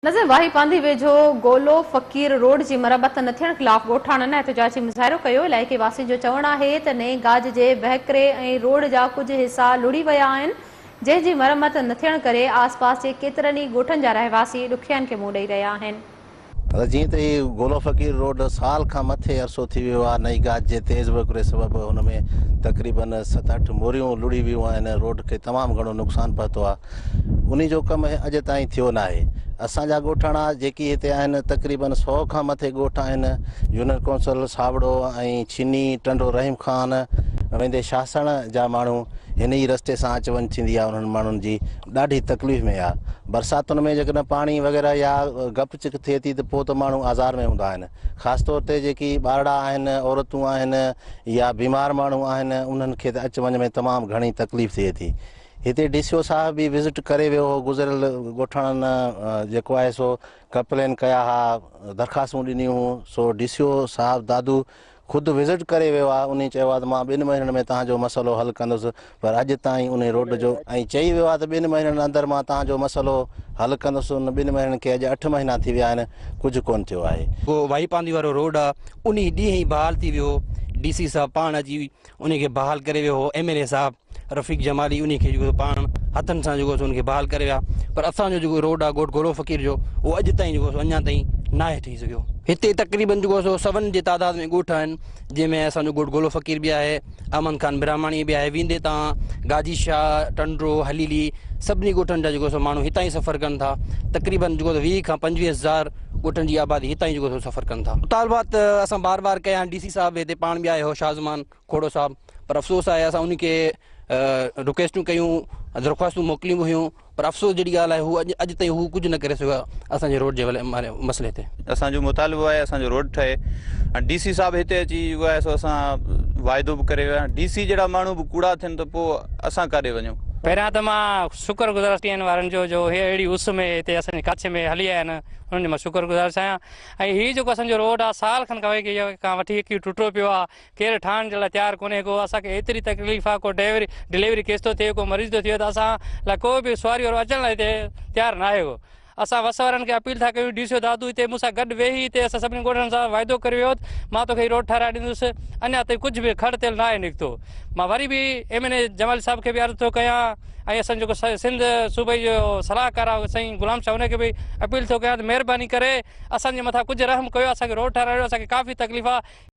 نظر واهي پانڌي ويجهو گولو فقير روڊ جي مرمت نه ٿيڻ خلاف ڳوٺاڻن احتجاجي مظاهرو ڪيو، علائقي واسين جو چوڻ آهي ته نئين گاج جي وهڪري ۽ روڊ جا ڪجهه حصا لڙهي ويا آهن جنهن جي مرمت نه ٿيڻ ڪري آس پاس جي ڪيترن ئي ڳوٺن جا رهواسي ڏکيائين کي منهن ڏئي رهيا آهن. نظر جيئن ته هي گولو فقير روڊ سال کان مٿي عرصو ٿي ويو آهي نئين گاج جي تيز وهڪري سبب هن ۾ تقريبن ست اٺ موريون لڙهي ويون آهن روڊ کي تمام گهڻو نقصان پهتو آهي. انهي جو ڪم اڄ تائين ٿيو ناهي. اسان جا ڳوٺاڻا جيڪي هتي آهن تقريبن سئو کان مٿي ڳوٺ آهن، يونين ڪونسل، ساوڙو ۽ ڇني، ٽنڊو رحيم خان ويندي شاهسڻ جا ماڻهو هن ئي رستي سان اچ وڃ ٿيندي آهي انهن ماڻهن جي ڏاڍي تڪليف ۾ آهي برساتن ۾ جيڪڏهن پاڻي وغيره يا گپ چڪ ٿئي ٿي ته پوء ته ماڻهو آزار ۾ هوندا آهن خاص طور تي جيڪي ٻارڙا آهن عورتون آهن يا بيمار ماڻهو آهن انهن کي ته اچ وڃ ۾ تمام گهڻي تڪليف ٿئي ٿي هتي ڊي سي او صاحب به وزٽ ڪري ويو هو گذريل ڳوٺاڻن جيڪو آهي سو ڪپلين ڪيا ها درخواستون ڏنيون هون سو ڊي سي او صاحب دادو خود وزٽ ڪري ويو آهي انهي چيو آهي ته مان ٻن مهينن ۾ توهان جو مسئلو حل ڪندس پر اڄ تائين انهي روڊ جو ۽ چئي ويو آهي ته ٻن مهينن اندر مان توهان جو مسئلو حل ڪندس ان ٻن مهينن کي اڄ اٺ مهينا ٿي ويا آهن ڪجهه ڪون ٿيو آهي. جيڪو واهي پانڌي وارو روڊ آهي انهي ڏينهن ئي بحال ٿي ويو هو ڊي سي صاحب پاڻ اچي انهي کي بحال ڪري ويو هو ايم اين اي صاحب رفيق جمالي انهي کي جو پاڻ هٿن سان جو ان کي بحال ڪري ويا پر اسان جو جو روڊ آ گوٽ گولو فقير جو هو اڄ تائين جو اڃا تائين ناهي ٺهي سگهيو هتي تقريبن جو سو سون جي تعداد ۾ ڳوٺ آهن جنهن ۾ اسان جو گوٽ گولو فقير به آهي امن خان برهماڻي به آهي ويندي تان گاجي شاهه ٽنڊو حليلي سڀني ڳوٺن جا جو سو ماڻهو هتان ئي سفر ڪن ٿا تقريبن جو ويهه کان پنجويهه هزار ڳوٺن جي آبادي هتان ئي جيڪو سو سفر ڪن ٿا. مطالبات اسان بار بار ڪيا آهن، ڊي سي صاحب هتي پاڻ به آيو هو شاهه زمان کوڙو صاحب پر افسوس آهي اسان انهن کي رڪويسٽون ڪيون درخواستون موڪليون به هيون پر افسوس جهڙي ڳالهه آهي هو اڄ تائين هو ڪجهه نه ڪري سگهيو آهي اسان جي روڊ جي مسئلي تي. اسان جو مطالبو آهي اسان جو روڊ ٺهي ۽ ڊي سي صاحب هتي اچي جيڪو آهي سو اسان واعدو به ڪري ويا ڊي سي جهڙا ماڻهو به ڪوڙا ٿين ته پوء اسان ڪاڏي وڃون. پهريان ته مان شڪر گذار آهيان ٽين وارن جو جو هي اهڙي اس ۾ هتي اسان جي ڪاڇي ۾ هلي آيا آهن انهن جو مان شڪر گذار آهيان ۽ هي جيڪو اسان جو روڊ آهي سال کن کان وٺي کان وٺي اڪي ٽٽو پيو آهي ڪير ٺاهڻ جي لاء تيار ڪونهي ڪو اسان کي ايتري تڪليف آهي ڪو ڊيوري ڊليوري ڪيس ٿو ٿئي ڪو مريض ٿو ٿئي ته اسان لاء ڪو به سواري وارو اچڻ لاء هتي تيار ناهي ڪو اسان وس وارن کي اپيل ٿا ڪيون، ڊي سي او دادو هتي مون سان گڏ ويهي هتي اسان سڀني ڳوٺڙن سان واعدو ڪري ويو هوت مان توکي هي روڊ ٺهرائي ڏيندس، اڃا تائين ڪجهه به کڙ تيل ناهي نڪتو. مان وري به ايم اين اي جمالي صاحب کي به عرض ٿو ڪيان ۽ اسان جيڪو سنڌ صوبي جو صلاحڪار آهي سائين غلام شاهه ان کي به اپيل ٿو ڪيان ته مهرباني ڪري اسان جي مٿان ڪجهه رحم ڪيو اسان کي روڊ ٺهرائي ڏيو اسان کي ڪافي تڪليف آهي.